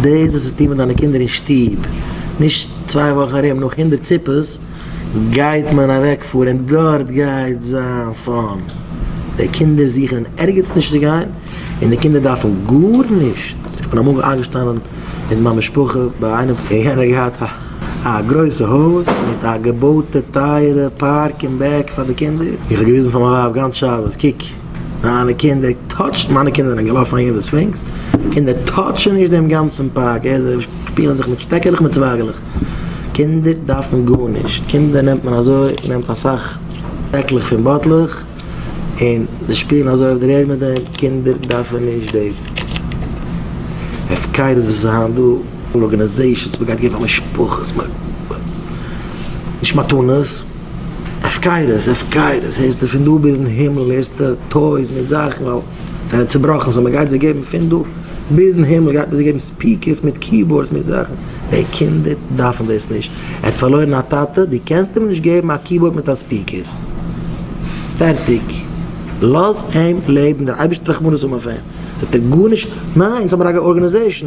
דאס וואס האט צו טון מיט דיינע קינדער אין שטוב, נישט צוויי וואכן ארום נאך הונדערט ציפעס גייט מען אוועק פארען דארט גייט זיין פאן, די קינדער זוכן אין ערגעץ נישט צו גיין און די קינדער דארפן גארנישט, איך בין אמאל איינגעשטאנען מיט מיין משפחה ביי איינעם און יענער האט געהאט א גרויסע הויז מיט א געבויטע טייערע פארק אין בעק פאר די קינדער, איך האב געוויזן פאר מיין ווייב גאנץ שבת קוק. מיינע קינדער טאטשן, מיינע קינדער זענען געלאפן אהין אין די ספינקס, קינדער טאטשן נישט דעם גאנצן פארק, אהער זיי שפילן זיך מיט שטעקעלעך מיט צווייגעלעך, קינדער דארפן גארנישט, קינדער נעמט מען אזוי, מען נעמט אסאך פעקלעך פון באטלעך און זיי שפילן אזוי אויף דער ערד מיט דעם, קינדער דארפן נישט די הפקרות וואס איז היינט דא, ארגענעזעישאנס, מען גייט געבן פאר משפחות, נישט מתנות. הפקרות, הפקרות, הערסטו פון דא ביזן הימל, הערסטו טויס מיט זאכן ווייל זיי זענען צובראכן, סאו מ'גייט זיי געבן פון דא ביזן הימל גייט מען זיי געבן ספיקערס מיט קיבארדס מיט זאכן, די קינדער דארפן דאס נישט, ער האט פארלוירן א טאטע, דו קענסט אים נישט געבן א קיבארד מיט א ספיקער, פערטיג, לאז אים לעבן, דער אייבערשטער רחמנות האבן אויף אים, זאגט ער גארנישט, ניין, אונז האמיר א ארגאניזעישן,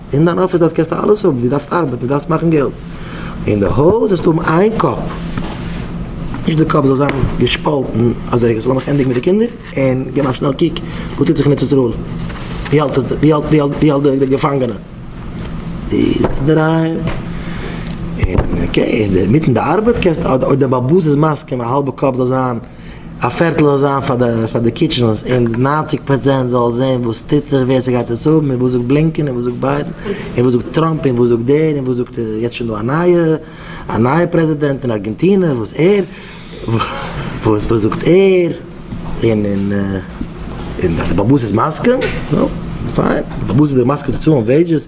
אין דיין אפיס דארט קענסטו אלעס האבן, דו דארפסט ארבעטן, דו דארפסט מאכן געלט. אין די הויז זאלסטו האבן איין קאפ, נישט די קאפ זאל זיין געשפאלטן אזוי, איך זאל מיך ענדיגן מיט די קינדער און געבן א שנעל קוק וואס טוט זיך אין ארץ ישראל, ווי האלט עס, ווי האלט, ווי האלט די געפאנגענע, די זעצט אינדערהיים און אקעי, אינמיטן די ארבעט קענסטו אויב די באבוס איז מסכים א האלבע קאפ זאל זיין. א פערטל זאל זיין פאר די קיטשענס און ניינציג פראצענט זאל זעהן וואס טוט זיך ווער ס'גייט עס האבן און וואס זאגט בלינקען און וואס זאגט ביידן און וואס זאגט טראמפ און וואס זאגט דער און וואס זאגט יעצט שוין דא א נייע א נייע פרעזידענט אין ארגענטינע וואס ער וואס וואס זאגט ער און און און די באבוס איז מסכים נו פיין די באבוס איז מסכים צו צאלן וועידזשעס.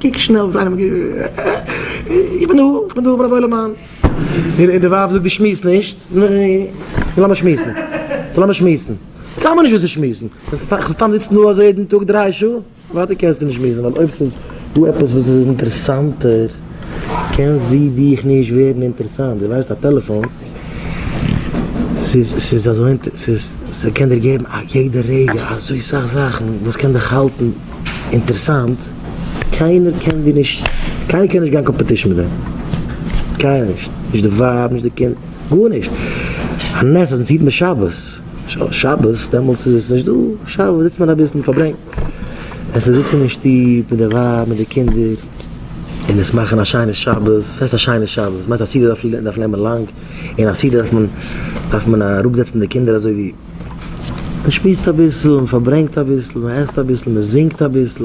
קוק שנעל וואס איינער האט געשריבן. איך בין דא, איך בין דא בן אבוי למען. און די ווייב זאגט די שמועסט נישט. נו לאמיר שמועסן. סאו לאמיר שמועסן. זאג מיר נישט וואס צו שמועסן. כ'זאל סתם זיצן דא אזוי יעדן טאג דריי שעה? ווייטער קענסטו נישט שמועסן ווייל אויב ס'איז דא עפעס וואס איז אינטערעסאנטער קען זי דיך נישט ווערן אינטערעסאנט. דו ווייסט א טעלעפאן. ס'איז אזוי אינ. ס'קען דיר געבן א יעדע רגע אזוי סאך זאכן וואס קען דיך האלטן אינטערסאנט, קיינער קען דיר נישט, קיינער קען נישט גיין קאמפעטישן מיט דעם, קיינער נישט, נישט די ווייב, נישט די קינדער, גארנישט, א נס אז אונז היט מען שבת, שבת דעמאלטס איז עס נישט דא, שבת זיצט מען אביסל, מ'פארברענגט, עס איז זיצן אין שטוב מיט די ווייב מיט די קינדער. און עס מאכן א שיינע שבת, וואס הייסט א שיינע שבת? מיינסט א סעודה דארף נעמען לאנג, און א סעודה דארף מען, דארף מען אראפ זעצן די קינדער אזוי ווי, מען שמועסט אביסל, מען פארברענגט אביסל, מען עסט אביסל, מען זינגט אביסל,